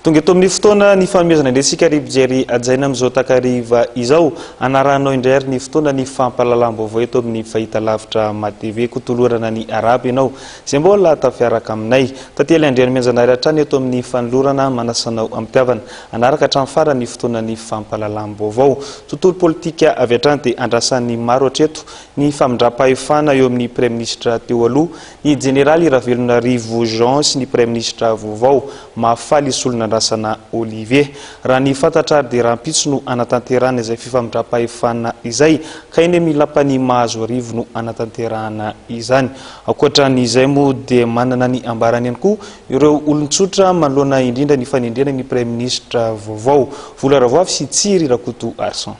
Tonga eto amin'ny fotoana ny fanomezana indrentsika ry Bijery Ajaina amin'izao takariva izao. Anaranao indray ary ny fotoana ny fampalalam-baovao eto amin'ny fahita lavitra matv. Kotolorana ny arabo ianao. Izay mbola tafiaraka aminay. Tantely Andrianamianjanahary hatrany eto amin'ny fanolorana manasanao am-pitiavana. Hanaraka hatramin'ny farany ny fotoanan'ny fampahalalam-baovao. Tontolo politika avy hatrany dia andrasan'ny maro hatreto ny famindram-pahefana eo amin'ny Praiminisitra teo aloha, ny Jeneraly Ravelonarivo Jean sy ny Praiminisitra vaovao, Mahafaly Solonandrasana Olivier. Raha ny fantatra ary dia rahampitso no hanatanterahana izay fifamindram-pahefana izay, ka eny amin'ny Lapan'i Mahazoarivo no hanatanterahana izany. Ankoatra ny izay moa dia manana ny ambarany ihany koa ireo olon-tsotra manoloana indrindra ny fanendrena ny praiminisitra vaovao, Vola Ravoavy sy Tsiry Rakotoarison.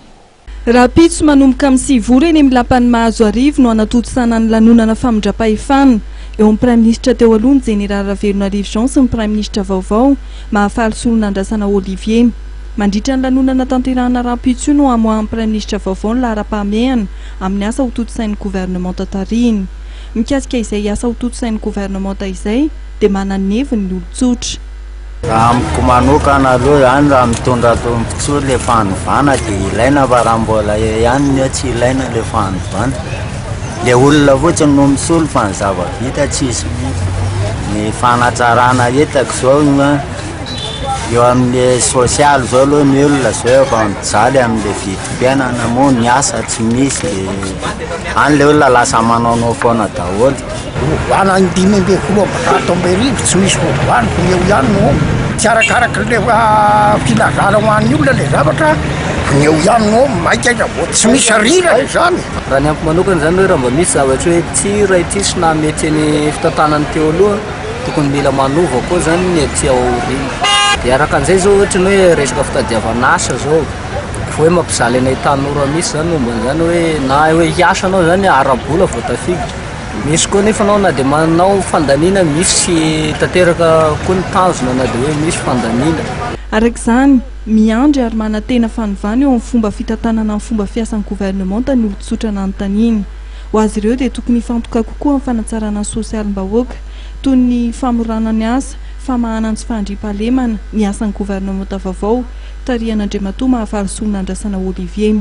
Rahampitso manomboka amin'ny sivy ora eny amin'ny lapan'i Mahazoarivo no hanatontosana ny lanonana famindram-pahefana eo amin'ny praiminisitra teo aloha ny jeneraly Ravelonarivo Jean sy ny praiminisitra vaovao Mahafaly Solonandrasana Olivier. Mandritra ny lanonana tanterahina rahampitso io no hamoahan'ny praiminisitra vaovao ny laharam-pahamehana amin'ny asa hotontosain'ny governemanta tarihiny. Mikasika izay asa hotontosain'ny governemanta izay dia manana ny heviny ny olon-tsotra. Raha amiko manokana aloha izany raha mitondra tombontsoa ilay fanovana dia ilaina fa raha mbola eo ihany ny eo tsy ilaina ilay fanovana. Ilay olona fotsiny no misolo fa ny zava-bita tsisy. Ny fanatsarana hitako izao Eo amin'ny sosialy izao aloha ny olona izao efa mijaly amin'ilay vidim-piainana moa ny asa tsy misy dia any ilay olona lasa manaonao foana daholo. Hovana ny dimy ambin'ny folo amby zato amby arivo tsy misy hovana fa eo ihany no omby. Tsy arakaraka ilay filazana ho an'ny olona ilay zavatra fa ny eo ihany no omby maika aza vao tsy misy sahirana izany. Raha ny amiko manokana izany hoe raha mba misy zavatra hoe ity raha ity sy naha-mety ny fitantanana teo aloha. tokony mila manova koa zany ny aty aoriana. Dia araka an'izay zao ohatra ny hoe resaka fitadiavana asa zao, hoe mampijaly anay tanora mihitsy zany momba an'izany hoe na hoe hiasa anao zany ara-bola vao tafiditra. Misy koa nefa anao na dia manao fandaniana misy tanteraka koa ny tanjona na dia hoe misy fandaniana. Araka izany, miandry ary manantena fanovana eo amin'ny fomba fitantanana ny fomba fiasan'ny governemanta ny olon-tsotra nanontaniana. Ho azy ireo dia tokony hifantoka kokoa amin'ny fanatsarana ny sosialim-bahoaka, toy ny famorana ny asa, famahana ny tsy fahandriampahalemana, ny asan'ny governemanta vaovao, tarihan'Andriamatoa Mahafaly Soa Nandrasana Olivier.